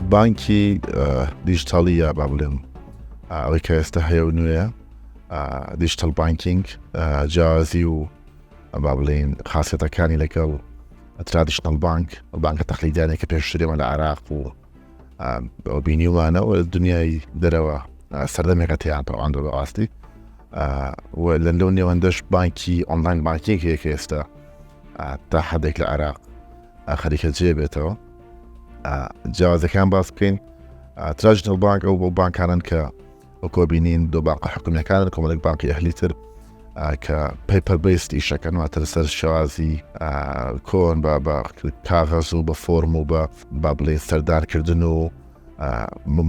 بانکی دیجیتاڵی یا با بڵێم ئەوەی کە ئێستا هەیە و نوێە دیجیتال بانکینگ جیازی و با بڵین خاصەتەکانی لەگەڵ ترادیشنل بانک بانکە تەخلیدانێک کە پێشترێمە لە عراق و ئەو بینیوانەوە دنیای دەرەوە سەردەمێکە تیان تاوان دە بەڕاستی لە لەو نێوەندەش بانکی ئۆنلاین بانکیەک هەیە کە ئێستا تا حدێک لە عراق خەریکە جێ بێتەوە جیازەکان باس بکەین تراژنەڵ بانک ئەو بۆ بانکانن کە وەکۆ بینین دو بانقە حکومیەکانن کۆمەلێک بانقی ئەهلی تر کە پەیپەر بەیست ئیشەکەن واتە لەسەر شێوازی کۆن بە بە کاغەز و بە فۆرم و بە با بڵێن سەردانکردن و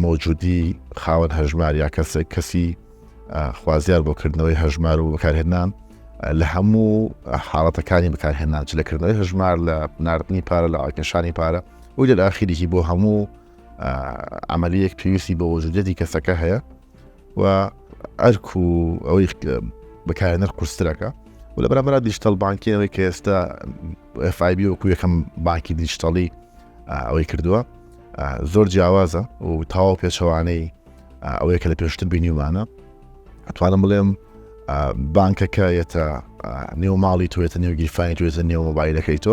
مۆجودی خاوەن هەژمار یا کەسێک کەسی خوازیار بۆ کردنەوەی هەژمار و بەکارهێنان لە هەموو حاڵەتەکانی بەکارهێنان چ لەکردنەوەی هەژمار لە نردنی پارە لە ئاکەشانی پارە و لە ئاخیریی بۆ هەموو عملیەک پێویستی بە وەجودەتی کەسەکە هەیە و ئەرک و ئەوەی بەکارێنەر قوسترەکە و لە بەرامبرا دیشتەل بانکیەوەی کە ئێستا FIB وەکو یەکەم بانکی دیشتەڵی ئەوەی کردووە زۆر جیاوازە و تاوا پێچەوانەی ئەوەیە کە لە پێشتر بینیومانە ئەتوانم بڵێم بانکەکە یەتە نێو ماڵی توێتە نێو گیرفانی توێتە نێو مۆبایلەکەی تۆ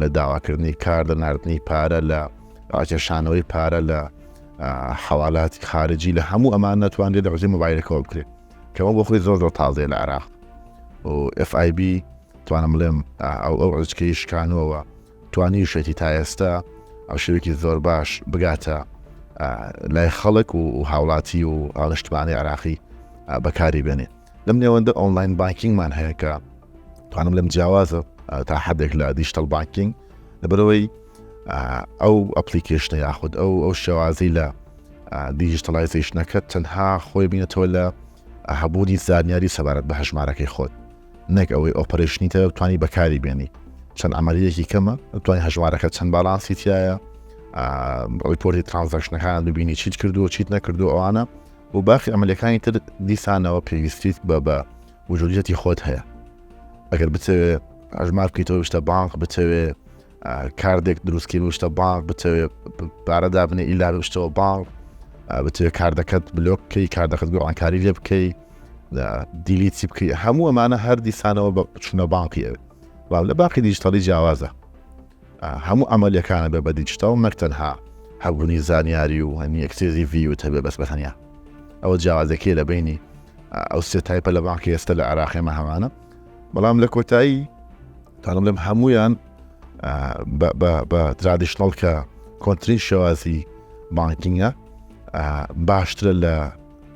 لە داواکردنی کار لە نردنی پارە لە ڕاکێشانەوەی پارە لە حوالاتی خارجی لە هەموو ئەمان ناتوانێت لە ڕژی مۆبایلەکەەوە بکرێت کەەوە بۆ خۆی زۆر زۆر تازێ لە عراق FIB توانم بڵێم ئەو ئەو ڕزکەی شکانەوە توانی شێتی تا ئێستا ئەو شوێکی زۆر باش بگاتە لای خەڵک و هاوڵاتی و هاڵشتمانی عراقی بەکاری بێنێ لەم نێوەندە ئۆنلاین بانکینگمان هەیە کە توانم لەم جیاوازە تا حدێک لە دیشتەل بانکینگ لەبەرەوەی ئەو ئەپلیکیشنە یاخود ئەو ئەو شێوازی لە دیجیتەلایزیشنەکە تەنها خۆی بینێتەوە لە هەبوونی زانیاری سەبارەت بە هەژمارەکەی خۆت نەک ئەوەی ئۆپەرشنی تە توانی بەکاری بێنی چەند ئەمەریەکی کەمە توانین هەژمارەکە چەند باڵانسی تایە ڕیپۆری ترانزەکشنەکان ببینی چیت کردو چیت نەکردو ئەوانە و باخی ئەمەلەکانی تر دیسانەوە پێویستیت بە بە وجولیەتی خۆت هەیە ئەگەر بتەوێ ئەژمار بکەیتەوە شتە بانق بتەوێ کاردێک دروستکەی شتە بانق بتەوێ پارە دابنێ ئیلا شتەوە بانق بتوێ کاردەکەت بلۆک بکەی کاردەکەت گۆڕانکاری لێ بکەی دیلیتی بکەی هەموو ئەمانە هەر دیسانەوە بە چونە بانقی ئەوێت لە باقی دیجتەڵی جیاوازە هەموو ئەمەلەکانە بە بە دیجتاڵ نەک تەنها هەبوونی زانیاری و هەنی ئەکسێزی ڤیوت هەبێ بەس بە تەنیا ئەوە جیاوازەکەی لە بینی ئەو سێ تایپە لە بانکی ئێستا لە عراقێمە هەمانە بەڵام لە کۆتایی تاڵم لەم هەمویان بە ترادیشنڵ کە کۆنتترین شێوازی بانکینگە باشترە لە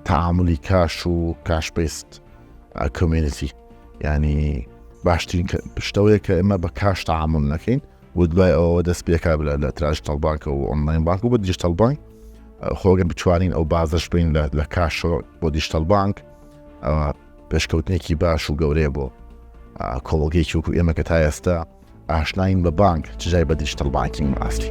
تعاملی کاش و کاشپیست کۆمینسی ینی باشترین پشتەوەیە کە ئێمە بە کاش تەعامل نەکەین و دوای ئەوە دەست پێکا بلا لە تراژ تەڵبانکە و ئۆنلاین بانک و بە دیجیتەڵ بانک خۆگەن بچوانین ئەو بازش بین لە کاشەوە بۆ دیجیتەڵ بانک پێشکەوتنێکی باش و گەورەیە بۆ کۆڵگەی چوک و ئێمە کە تا ئێستا ئاشناین بە بانک چجای بە دیجیتەڵ بانکین ئاستی.